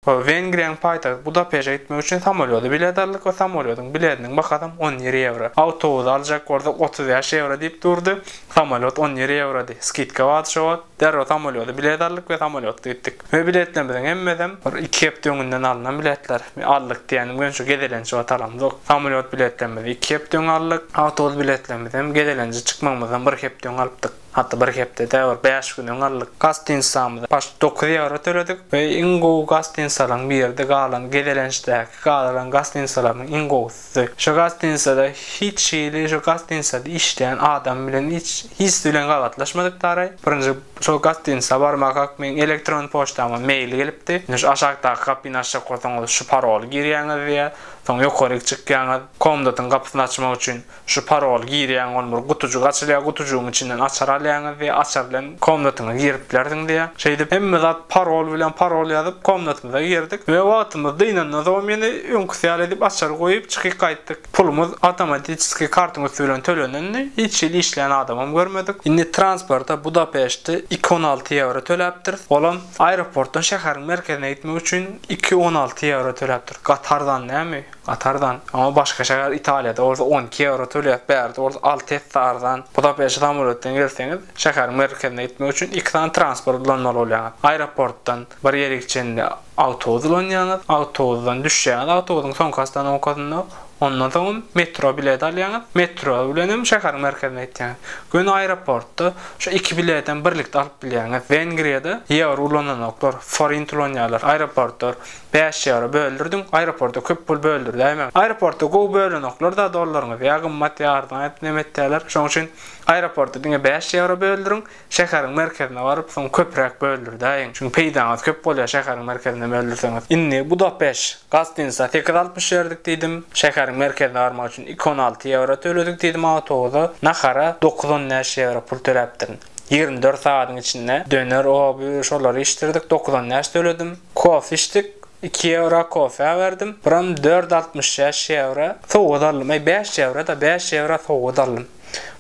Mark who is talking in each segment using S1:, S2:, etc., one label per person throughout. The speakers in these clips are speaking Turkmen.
S1: Wengriýanyň paýtagty Budapeşe gitmek üçin samolýoda bilet aldyk we samolýodyň bilediniň bahasam on ýedi ýewro. Awtobuzy aljak bolsak otuz bäş ýewro diýip durdy. Samolýot on ýedi ýewrody. Skidka bardy şo wagt. Derrew samolýoda bilet aldyk we samolýotda gitdik. We biletlerimiziň hemmesem bir iki hepde öňünden alnan biletler. Aldyk diýýänim gön şu gezelenç wagt alamzok. Samolýot biletlerimizi iki hepde öň aldyk. Awtobus biletlerimizem gezelenje çykmagymyzdan bir hepde öň alypdyk. Hatda bir hepdede bir bäş güne galdyk. Gostinsamyza başda dokuz ýewro töledik we iň gowy gostinsalyň biridi galan gezelençdäki gadyryň gostinsalarnyň iň gowusydy. Şo gostinsada hiç hili şo gostinsada işleýän adam bilen hiç hiç bilen gabatlaşmadyk daraý. Birinji şo gostinsa barmakak meň elektron poçtama mail gelipdi. Indi şu aşakdaky gapyny açjak bolsaňyz şu paroly girýäňiz diýýär. Soň ýokaryk çykýaňyz komdatyň gapysyny açmak üçin. Şu paroly girýäň ol bir gutujyk açylýar gutujygyň içinden açar alýaňyz diýýär açar bilen komnatyňyz girip bilersiň diýýär. Şeýdip hemme zat parol bilen parol ýazyp komnatymyza girdik we wagtymyz dynandan soň ýene öňküsi ýaly edip açary goýup çykyp gaýtdyk. Pulumyz awtomatiçeskiý kartyň üsti bilen tölenendi hiç hili işleýän adamam görmedik. Indi transporta Budapeşte iki on alty ýewro töläpdiris olam aeroportdan şäheriň merkezine gitmek üçin iki on alty ýewro töläpdiris gaty arzan näme. Katardan. Ama başka şäher Italiýada bolsa on iki ýewro tölýär, bärde bolsa alty esse arzan. Budapeşte samolýotdan gelseňiz, şäheriň merkezine gitmek üçin iki sany transport ulanmaly bolýaňyz. Aeroportdan bir ýere çenli awtobus ulanýaňyz, awtobusdan düşýäňiz, awtobusyň soňky ostanowkasynda, ondan soňam metro bileti alýaňyz, metro bilen hem şäheriň merkezine ýetýäňiz. Göni aeroportda şu iki biletem birlikde alyp bilýäňiz. Wengriýada ýewro ulananoklar, forint ulanýarlar. Aeroportlar Bäş ýewro böldürdiň, aeroporta köp pul böldürdäýme. Aeroporta gowy bölenoklar-da dollaryňyzy, ýa gymmat, ýa arzan aýdyp nem etýärler. Şoň üçin aeroporta diňe bäş ýewro böldüriň, şäheriň merkezine baryp, soň köpräk böldürdäýiň. Çünki peýdaňyz köp bolýar şäheriň merkezine böldürseňiz. Indi Budapest, gostinsa sekiz altmyş berdik diýdim, şäheriň merkezine barmak üçin iki on alty ýewro töledik diýdim, awtobusa, nahara dokuz-on bäş ýewro pul töläpdirin. Ýigrimi dört sagadyň içinde döner, oby, şolary içdirdik, dokuz on bäş töledim. Kofe içdik, iki ýewro kofe berdim. Buram dört altmyş şäş ýewro sowgat aldym. Eý, bäş ýewro-da, bäş ýewro sowgat aldym.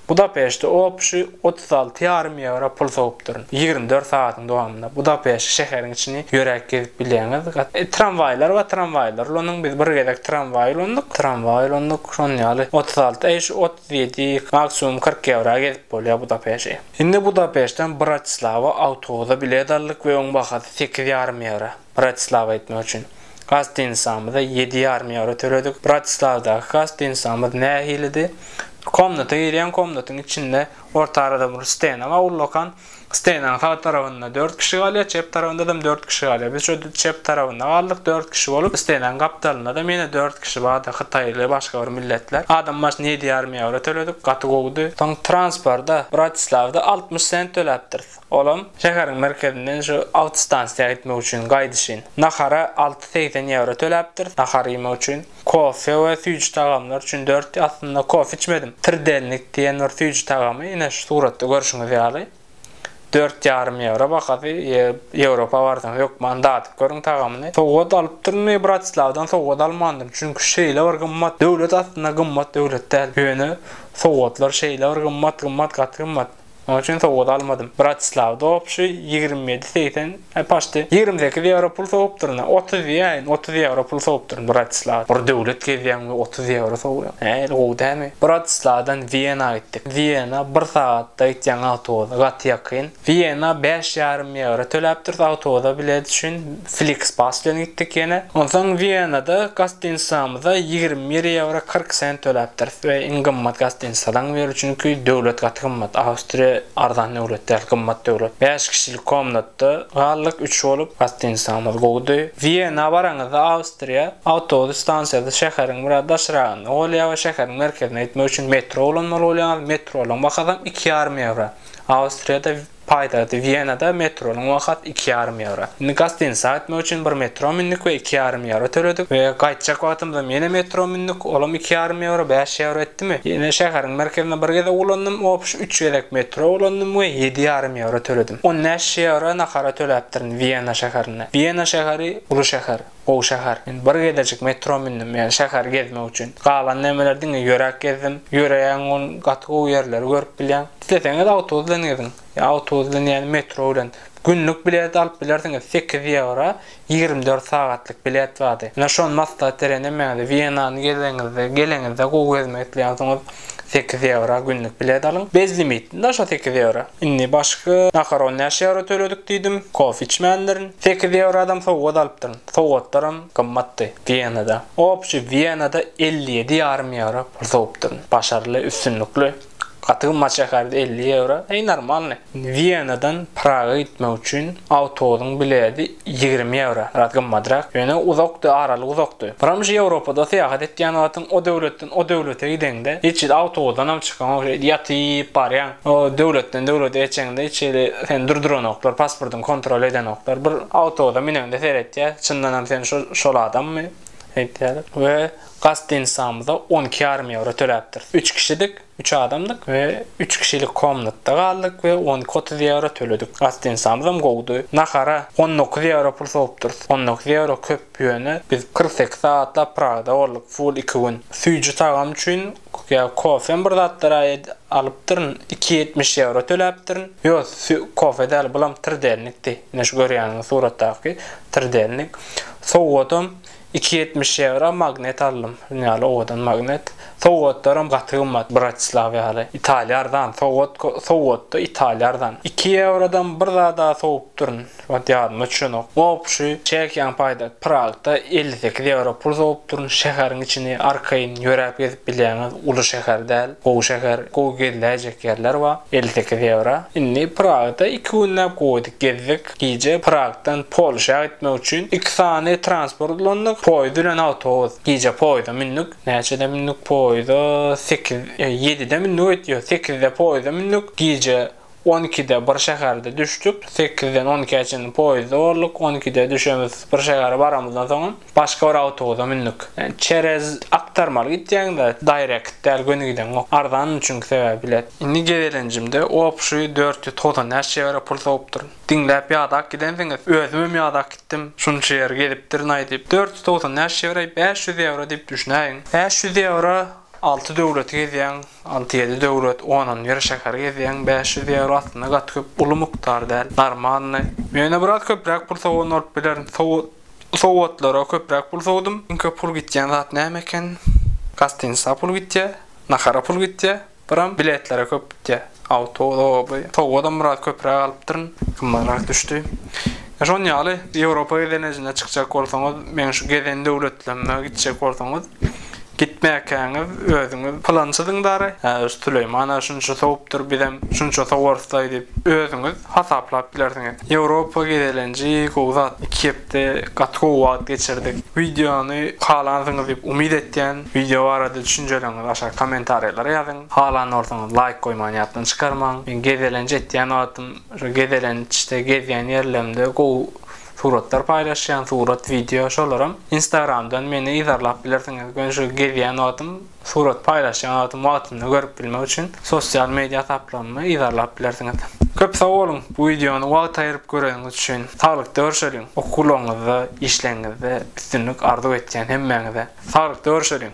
S1: Budapeşte opşi otuz alty ýarym ýewro pul sowupdyryn. Ýigrimi dört sagadyň dowamynda Budapeşt şäheriň içini ýöräp gezip bilýäňiz. Tramwaýlar bar, tramwaýlar ulanyň. Biz bir gezek tramwaý ulandyk, tramwaý ulandyk, şonuň ýaly otuz alty. Eý, şu Bileti maksimum kyrk ýewra gezip bolýar Budapeşe. Indi Budapeşden Bratislawa awtobusa bilet aldyk we oň bahasy sekiz ýarym ýewro. Bratislawa gitmek üçin gastinisamyza ýedi ýarym ýewro töledik. Bratislawdaky gastinisamyz nähilidi? Komnata girýäň, komnatyň içinde orta arada bir stena bar ullakan. Steýnaň sag tarabynda dört kişi galýar, çep tarabynda-da dört kişi galýar. Biz şu çep tarabynda galdyk, dört kişi bolup. Steýnaň gapdalynda-da ýene dört kişi bardy, hytaýly, başga bir milletler. Adam başyna ýedi ýarym ýewro töledik, gaty gowudy. Soň transporta Bratislawda altmyş sent töläpdiris. Olam şäheriň merkezinden şu awtostansiýa gitmek üçin, gaýdyşyn. Nahara alty segsen ýewro töläpdiris, nahar iýmek üçin. Kofe we süýji tagamlar üçin dört aslynda kofe içmedim. Trdelnik diýen bir süýji tagamy ine şu suratda görşüňiz ýaly. Dört ýarym ýewro bahasy. Ýewropa barsaňyz hökman dadyp görüň tagamyny. Sowgat alypdyryn we Bratislawdan sowgat almandyryn. Çünki şeýle bir gymmat. Döwlet aslynda gymmat döwlet däl. Ýöne sowgatlar şeýle bir gymmat, gymmat gaty gymmat. Onuň üçin sowgat almadym. Bratislawda obşi ýigrimi ýedi segsen, he paşti ýigrimi sekiz ýewro pul sowupdyryn-a. Otuz diýäýin, otuz ýewro pul sowupdyryn Bratislawda. Bir döwlet gezýäň we otuz ýewro sowýaň. Hä, il gowy dälmi? Bratislawdan Wiena gitdik. Wiena bir sagatda gitýäň awtobusa, gaty ýakyn. Wiena bäş ýarym ýewro töläpdiris awtobusa bilet üçin. Flixbus bilen gitdik ýene. Onsoň Wienada gostinitsamyza ýigrimi bir ýewro kyrk sent töläpdiris we iň gymmat gostinitsadan biri çünki döwlet gaty gymmat. Awstriýa arzan döwlet däl, gymmat döwlet. Bäş kişilik komnatda galdyk, üç bolup. Gostinitsamyz gowudy. Wiena baraňyzda Awstriýa awtobus stansiýasy şäheriň biraz daşragynda bolýar we şäheriň merkezine gitmek üçin metro ulanmaly bolýaňyz. Metronyň bahasam iki ýarym ýewro. Awstriýada Paýtagty Wienada metronyň wahat iki ýarym ýewro. Indi gastiniçä gitmek üçin bir metro mündik we iki ýarym ýewro töledik we gaýtjak wagtymyzam ýene metro mündik, olam iki ýarym ýewro, bäş ýewro etdimi? Ýene şäheriň merkezine bir gezek ulandym, opş üç gezek metro ulandym we ýedi ýarym ýewro töledim. On bäş ýewro nahara töläpdirin Wiena şäherinde. Wiena şäheri uly şäher. Gowy şäher. Men bir gezejik metro mündüm, ýagny şäheri gezmek üçin. Galan nämeler diňe ýöräp gezdim. Ýöreýän gün gaty gowy ýerleri görüp bilýäň. Isleseňiz awtobus bilen geziň. Ýa awtobus bilen ýa-da metro bilen. Günlük bilet alyp bilersiňiz, sekiz ýewro ýigrimi dört sagatlyk bilet bardy. Ine şony maslahat berýän hemmäňize. Wienany gezeňizde, geleňizde gowy gezmek isleýänsiňiz sekiz ýewro günlük bilet alyň. Bezlimit, daşa sekiz ýewro. Indi başga nakaron näçe ýewro töledik diýdim. Kofe içmändirin. Sekiz ýewradam sowgat alypdyryn. Sowgatlaram gymmatdy. Wienada. Opçi Wienada elli ýedi ýarym ýewro pul sowupdyryn. Başarly, üstünlikli. Gaty gymmat şäherdi elli ýewro. Heý normalny. Wienadan Praga gitmek üçin awtobusyň biledi ýigrimi ýewro. Biraz gymmadrak. Ýöne uzakdy, aralyk uzakdy. Muram şu Ýewropada syýahat etýän wagtyň o döwletden o döwlete gideňde hiç hili awtobusdanam çykaňok. Şeýdip ýatyp barýaň. O döwletden döwlete geçeňde hiç hili seni durduranoklar, pasportyňy kontrol edenoklar. Bir awtobusa mineňde seretýär, çyndanam sen şu şol adammy? Aýtýar we gaz stanisamyza on iki ýarym ýewro töläpdiris. Üç kişidik, üç adamdyk we üç kişilik komnatda galdyk we on iki otuz ýewro töledik. Gaz stanisamyzam gowudy. Nahara on dokuz ýewro pul sowupdyrys. On dokuz ýewro köp, ýöne biz kyrk sekiz sagatlap Pragada bolduk, full iki gün. Süýji tagam üçin Kükya kofem bir zatlar aýt alypdyryn iki ýetmiş ýewro töläpdirin ýok sü kofe däl bulam trdelnikdi ine şu görýäniňiz suratdaky trdelnik sowgatam iki ýetmiş ýewra magnet aldym şun ýaly owadan magnet sowgatlaram gaty gymmat bratislaw ýaly italiýa arzan sowgat sowgatda italiýa arzan iki ýewrodan bir zada sowupdyryn. Ot ýadyma düşenok. Gopuşy çekýän paýda Pragda elli sekiz ýewro pul sowup durun. Şäheriň içini arkaýyn ýöräp gezip bilýäňiz. Uly şäher däl. Gowy şäher. Gowy geziläýjek ýerler bar. Elli sekiz ýewro. Indi Pragda iki günläp goýduk, gezdik. Gije Pragdan Polşa gitmek üçin iki sany transport ulandyk. Poýuz bilen awtobus. Gije poýuza mündük. Näçede mündük poýuza? Sekiz, ýedide mündük öýt. Ýok, sekizde poýuza mündük. Gije On ikide bir şäherde düşdük. Sekizden on ikä çenli poýezde bolduk. On ikide düşemiz bir şähere baramyzdan soňam başga bir awtobusa mündük. Çerez aktarmaly gitýäň-de, daýrekt däl göni gideňok. Arzandy çünki sebäbi bilet. Indi gezelenjimde obşi dört ýüz togsan bäş ýewro pul sowupdyryn. Diňläp ýadap gidensiňiz. Özümem ýadap gitdim. Şunça ýeri gezipdirin-aý diýip. Dört ýüz togsan bäş ýewro-aý bäş ýüz ýewro diýip düşünäýiň. Bäş ýüz ýewro Alty döwleti gezýäň, alty-ýedi döwlet, onam bir şäheri gezýäň, bäş ýüz ýewro aslynda gaty köp, uly mukdar däl, normalny. Menä biraz köpräk pul sowan bolup biler, sowgatlara köpräk pul sowdum. Iň köp pul gitýän zat näme eken? Gostinsa pul gitýä, nahara pul gitýä, biram biletlere köp gitýä. Awtobus, oba, sowgadam biraz köpräk alypdyryn, gymmatrak düşdi. Şon ýaly, Ýewropa gezelenjine çykjak bolsaňyz, meň şu gezen döwletlemime gitjek bolsaňyz, Gitmäkäňiz özüňiz pylançydyň dara, hä şu Süleýman-a şunça sowupdyr, bizem şunça sowarys-laý diýip, özüňiz hasaplap bilersiňiz. Ýewropa gezelenji gowy zat. Iki hepde gaty gowy wagt geçirdik. Wideony halansyňyz diýip umyt etýän. Wideo barada düşünjeleriňizi aşak kommentariýalara ýazyň. Halan bolsaňyz laýk goýmany ýatdan çykarmaň. Men gezelenç etýän wagtym, şu gezelençde gezýän ýerlerimde gowy Suratlar paýlaşýan surat wideo şolaram instagramdan meni yzarlap bilersiňiz men şu gezýän wagtym surat paýlaşýan wagtym wagtynda görüp bilmek üçin sosial media hasaplarymy yzarlap bilersiňiz. Köp sag boluň bu wideony wagt aýyryp göreniňiz üçin saglykda görşeliň okuwlaryňyzda işleriňizde üstünlik arzuw etýän hemmäňize saglykda görşeliň.